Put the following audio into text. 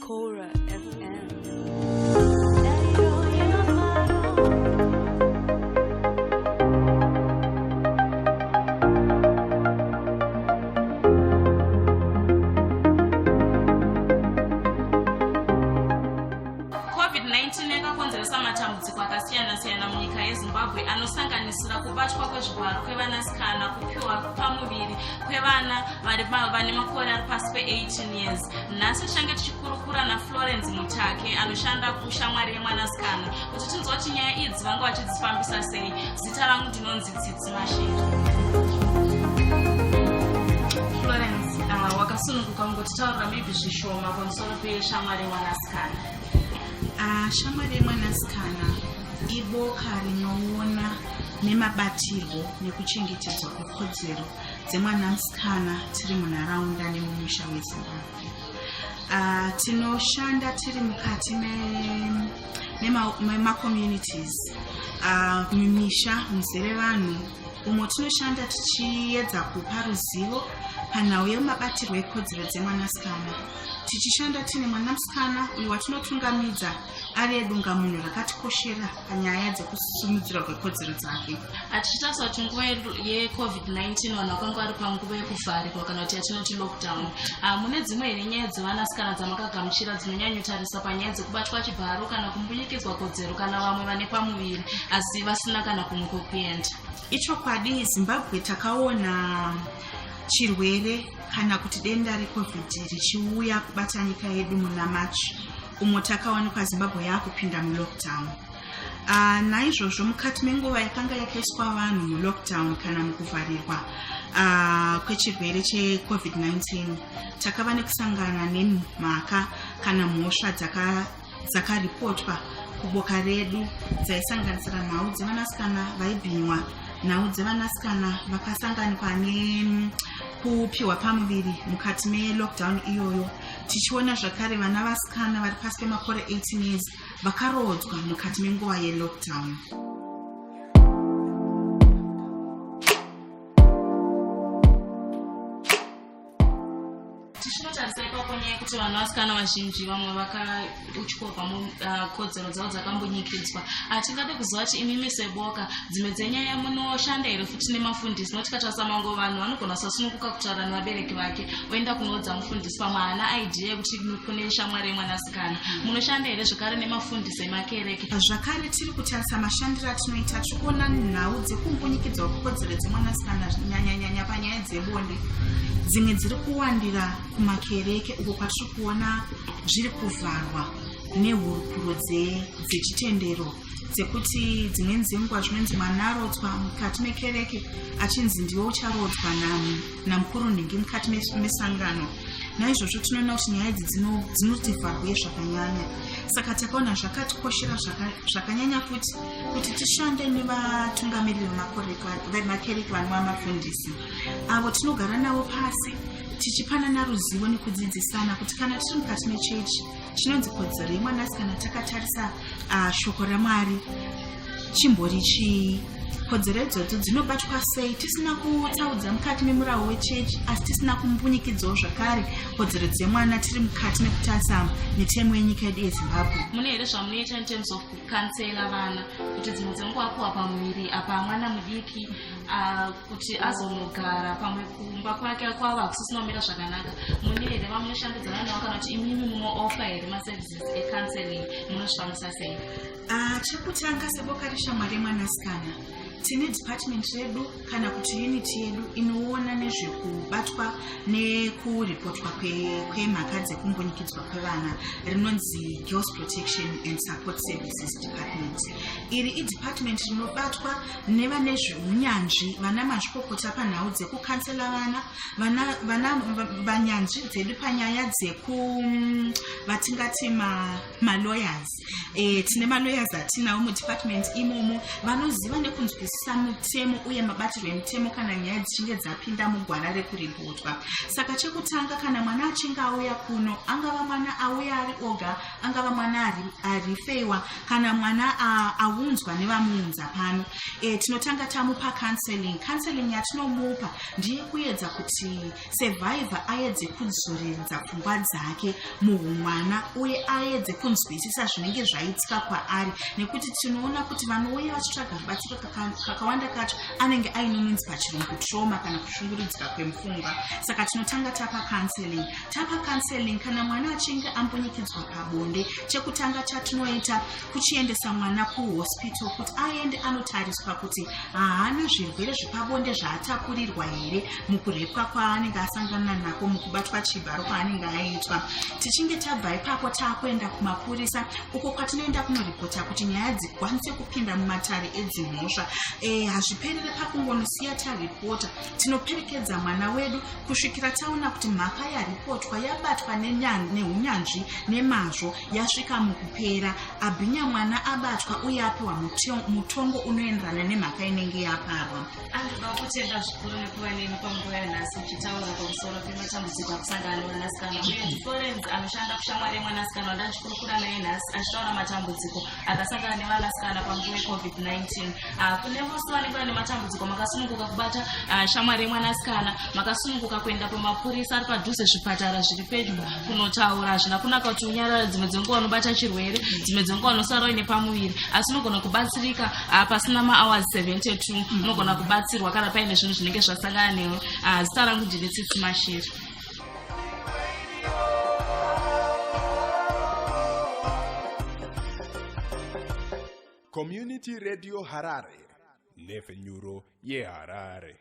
Cora FM. covid-19 yakakonzeresa matambudziko akasiyana-siyana munyika yezimbabwe anosanganisira kubatwa kwezvivharo kwevanasikana kupiwa pamuviri kwevana vane makore ari pasi pe18 years nhasi tichange tichikurukura naflorence mutake anoshanda kushamwari yemwanasikana kuti tinzwa kuti nyaya idzi vanga vachidzifambisa sei zita rangu ndinonzi tsitsi mashiri florence uh, wakasununguka kungotitaurira maybe zvishoma pamusoro peshamwari yemwanasikana uh, shamwari yemwanasikana iboka rinoona nemabatirwo nekuchengetedzwa kwekodzero dzemwana musikana tiri munharaunda nemumusha wezimbabwe uh, tinoshanda tiri mukati memacommunities me, me uh, mumisha muzere vanhu umo tinoshanda tichiyedza kupa ruzivo panhau yemabatirwo ekodzero dzemwanasikana tichishanda tine mwanasikana uyo watinotungamidza ave dungamunhu rakatikoshera panyaya dzekusimudzirwa kwekodzero dzake atichitarisa kuti nguva yecovid-19 vanhu vakanga vari panguva yekuvharirwa kana kuti yatinoti lockdown ah, mune dzimwe here nyaya dzevanasikana dzamakagamuchira dzinonyanyotarisa panyaya dzekubatwa chibharo kana kumbunyikidzwa kodzero kana vamwe vane pamuviri asi vasina kana kumwe kwekuenda ichokwadi zimbabwe takaona chirwere kana kuti denda recovid richiuya kubata nyika yedu muna machi umo takawanikwa zimbabwe yaakupinda mulockdown uh, naizvozvo mukati menguva yakanga yakaiswa vanhu mulockdown kana mukuvharirwa uh, kwechirwere checovid-19 takava nekusangana nemhaka kana mhosva dzakaripotwa zaka kuboka redu dzaisanganisira nhau dzevanasikana vaibhinywa nhau dzevanasikana vakasanganikwa nekupiwa pamuviri mukati melockdown iyoyo tichiona zvakare vana vasikana vari pasi pemakore 18 years vakaroodzwa mukati menguva yelockdown tichinotarisa ipapo nyaya yekuti vanhu vasikana vazhinji vamwe vaka kutyova mukodzero ah, dzavo dzakambunyikidzwa ah, tingade kuziva kuti imimi seboka dzimwe dzenyaya munoshanda here futi nemafundisi noti katarisa mango vanhu vanogona kusasununguka kutaura nevabereki vake oenda kunoudza mufundisi pamwe haana idea yekuti kune shamwari yemwanasikana munoshanda here zvekare nemafundisi emakereke zvakare tiri kutarisa mashandiro atinoita tiri kuona nhau dzekumbunyikidzwa kwekodzero dzemwanasikana nyanyanyanya panyaya dzebonde dzimwe dziri kuwandira kumakereke uko kwatiri kuona zviri kuvharwa nehurukuro dzechitendero dzekuti dzimweni dzenguva zvinonzi mwana arodzwa mukati mekereke achinzi ndiwo ucharodzwa namukuru nhingi mukati mesangano naizvozvo tinoona kuti nyaya idzi dzinotivharwe zvakanyanya saka takaona zvakatikoshera zvakanyanya kuti kuti tishande nevatungamiriri vemakereke vanova mafundisi avo tinogara navo pasi tichipanana ruzivo nekudzidzisana kuti kana tiri mukati mechechi chinonzi kodzero yemwanasikana takatarisa uh, shoko ramwari chimbori chii kodzero idzodzo dzinobatwa sei tisina kutsaudza mukati memurawo wechechi asi tisina kumbunyikidzawo zvakare kodzero dzemwana tiri mukati mekutarisa mitemo yenyika yedu yezimbabwe mune here zvamunoita in terms of kukansela vana kuti dzimwe dzenguva kuwa pamuviri apa mwana mudiki Ah, kuti azonogara pamwe kumba kwake kwava kusisina kumira zvakanaka mune here vamunoshandidzana navo kana kuti imimi munooffa here maservices ecounseling munozvifambisa sei ah, chekutanga seboka reshamwari yemwanasikana tine department redu kana kuti unit yedu inoona nezvekubatwa nekuripotwa kwemhaka kwe dzekumbunyikidzwa kwevana rinonzi girls protection and support services department iri idepartment rinobatwa nevane zveunyanzvi vana mazvikokota panhau dzekukansela vana vana vana vanyanzvi dzedu panyaya dzeku mm, vatingati malawyers e, tine malawyers atinawo mudepartment imomo vanoziva nekunzwisisa mutemo uye mabatirwo emutemo kana nyaya dzichinge dzapinda mugwara rekuributwa saka chekutanga kana mwana achinge auya kuno angava mwana auya ari oga angava mwana arifeiwa kana mwana aunzwa nevamuunza pano e, tinotanga tamupa counseling counseling yatinomupa ndiye kuedza kuti survivor aedze kuzoredza pfungwa dzake muhumwana uye aedze kunzwisisa zvinenge zvaitika kwaari nekuti tinoona kuti vanouya vachitsvaga rubatsiro kakawanda kacho anenge aine minzi pachirungu trauma kana kushungurudzika kwemupfungwa saka tinotanga tapa counseling tapa counseling kana mwana achinge ambunyikidzwa pabonde chekutanga chatinoita kuchiendesa mwana kuhospital kuti aende anotariswa kuti haana zvirwere zvepabonde zvaatapurirwa here mukurepwa kwaanenge asangana nako mukubatwa chibharo kwaanenge aitwa tichinge tabva ipapo taakuenda kumapurisa uko kwatinoenda kunoripota kuti nyaya dzikwanise kupinda mumatare edzimhosva eh, hazviperere pakungonosiya taripota tinoperekedza mwana wedu kusvikira taona kuti mhaka yaripotwa yabatwa neunyanzvi nemazvo yasvika mukupera abhinya mwana abatwa uye apiwa mutongo unoenderana nemhaka inenge yaparwa anoda kutenda zvikuru nekuva neni panguva yanhasi uchitaura pamusoro pematambudziko akusangana nemwanasikana uye florence anoshanda kushamwari yemwanasikana wandachikurukura naye nhasi achitaura matambudziko akasangana nevanasikana panguva yecovid-19 Ah, kune vose vanenge vane matambudziko makasununguka kubata ah, shamwari yemwanasikana makasununguka kuenda kumapurisa ari padhuze zvipatara zviri pedyo kunotaura hazvina kunaka kuti unyarara dzimwe dzenguva unobata chirwere dzimwe dzenguva unosara uine pamuviri asi unogona kubatsirika ah, pasina maawars 72 unogona kubatsirwa kana paine zvinhu zvinenge zvasangana newe zita rangu ndine tsitsi mashiri Community Radio Harare, nhepfenyuro yeHarare.